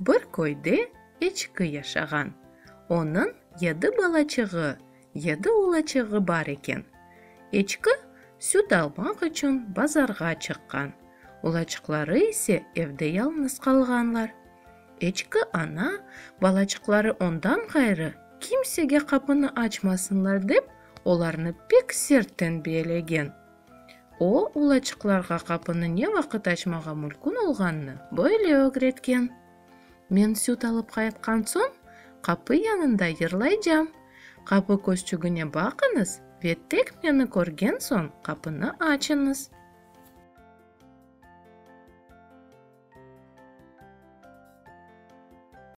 Bir köyde eçki yaşağan. Onıñ yedi balaçığı, yedi ulaçığı bar eken. Eçki süt almaq içün bazarğa çıqqan, ulaçıqları ise evde yalnız qalğanlar. Eçki ana, balaçıqları ondan ğayrı kimsege qapını açmasınlar dep, olarnı pek sert tenbiyelegen. O, ulaçıqlarğa qapını ne vaqıt açmağa mülkün olğanını böyle ögretken. Men süt alıp qaytqan soñ, qapı yanında yırlaycam. Qapı közçügine baqıñız ve tek meni körgen soñ qapını açıñız.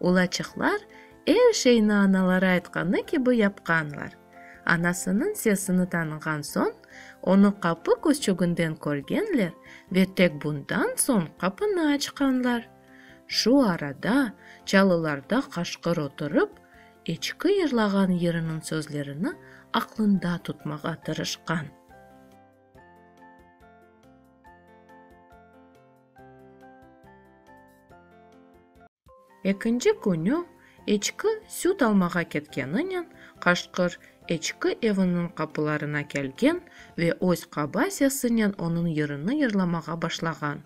Ulaçıqlar er şeyni anaları aytqanı kibi yapqanlar. Anasınıñ sesini tanığan soñ, onı qapı küçüginden körgenler ve tek bundan soñ qapını açqanlar. Şu arada Çalılarda qaşqır oturıp, eçki yırlağan yırınıñ sözlerini aqlında tutmağa tırışqan. Ekinci künü eçki süt almağa ketkeninen qaşqır eçki eviniñ qapılarına kelgen ve öz qaba sesinen onıñ yırını yırlamağa başlağan,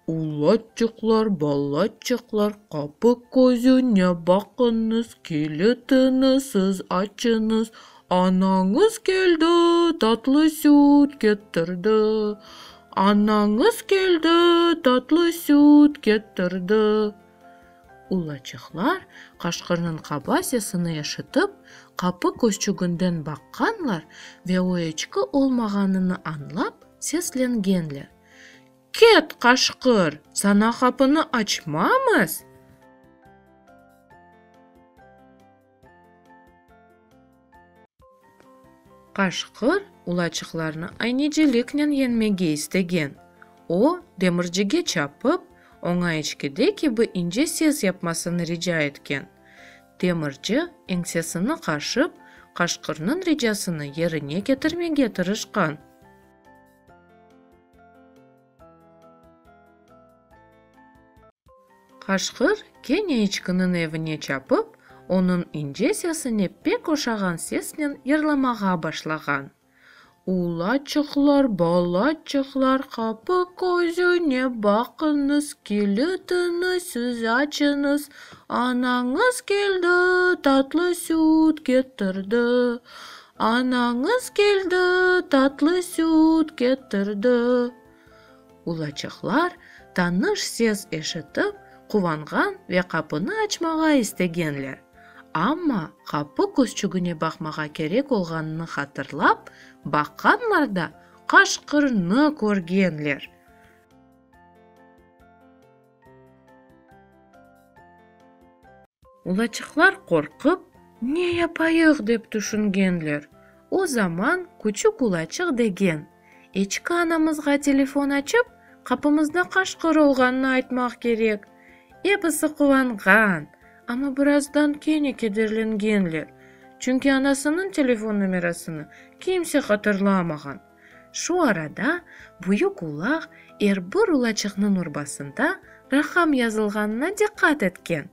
Ulaçıqlar, balaçıqlar, qapı közüne baqıñız, kilitini siz açıñız, Anañız keldi, tatlı süt ketirdi, Anañız keldi, tatlı süt ketirdi. Ulaçıqlar qaşqırnıñ qaba sesini eşitip, qapı köşçüginden baqqanlar ve o eçki olmağanını añlap, seslengenler, Ket, qaşqır, saña qapını açmamız! Qaşqır ulaçıqlarnı ayneciliknen yeñmege istegen. O, demircige çapıp, oña içkide kibi ince ses yapmasını rica etken. Demirci, eñsesini qaşıp, qaşqırnıñ ricasını yerine ketirmege tırışqan. Qaşqır kene içkiniñ evine çapıp, onıñ ince sesine pek oşağan sesnen yırlamağa başlağan, Ulaçıqlar, balaçıqlar, qapı közüne baqıñız, kilitiñizsiz açıñız, anañız keldi, tatlı süt ketirdi, Anañız keldi, tatlı süt ketirdi. Ulaçaqlar tanış ses eşitip quvanğan ve qapını açmağa istegenler, amma qapı küzçügine baqmağa kerek olğanını hatırlap baqqanlar da qaşqırnı körgenler. Ulaçıqlar qorqıp, ne yapayıq dep tüşüngenler. O zaman küçük ulaçıq degen eçki anamızğa telefon açıp, qapımızda qaşqır olğanını aytmaq kerek. Episi quvanğan, amma birazdan kene kederlengenler, çünki anasınıñ telefon nomerasını kimse hatırlamağan. Şu arada büyük ulaq er bir ulaçıqnıñ urbasında raqam yazılğanına diqqat etken.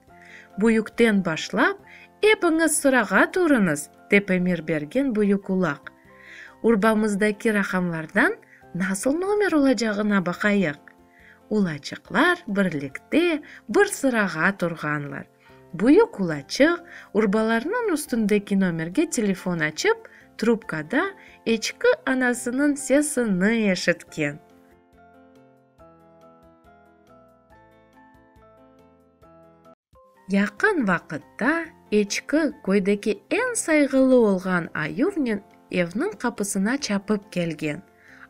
Büyükten başlap, epiñiz sırağa turıñız, dep emir bergen büyük ulaq. Urbamızdaki raqamlardan nasıl nomer olacağına baqayıq. Ulaçıqlar birlikte bir sırağa turğanlar. Büyük qulaçıq, urbalarnıñ üstündeki nomerge telefon açıp, trubkada eçki anasınıñ sesi ni eşitken. Yaqın vaqıtta eçki köydeki eñ sayğılı olğan ayuvnen evniñ qapısına çapıp kelgen.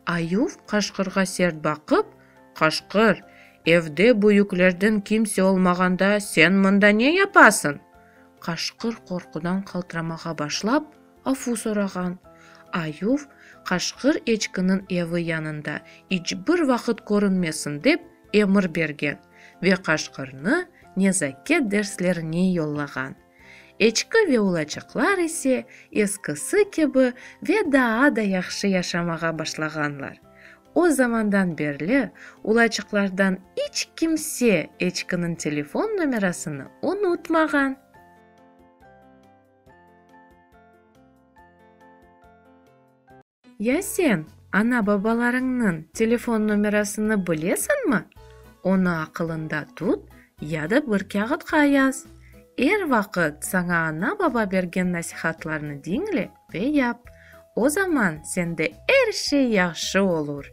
Ayuv qaşqırğa sert baqıp, Qaşqır, evde büyüklerden kimse olmağanda sen mında ne yapasıñ? Qaşqır qorqudan qaltıramağa başlap, afu sorağan. Ayuv, Qaşqır eçkiniñ evi yanında iç bir vaqıt körünmesin dep emir bergen ve Qaşqırnı nezaket derslerine yollağan. Eçki ve ulaçıqlar ise eskisi kibi ve daa da yahşı yaşamağa başlağanlar. O zamandan berli ulaçıqlardan iç kimse eçkiniñ telefon nomerasını unutmağan. Ya sen ana-babalarıñnıñ telefon nomerasını bilesiñmi? Onı aqılıñda tut ya da bir kâğıtqa yaz. Er vaqıt saña ana-baba bergen nasihatlarnı diñle ve yap. O zaman sende er şey yahşı olur.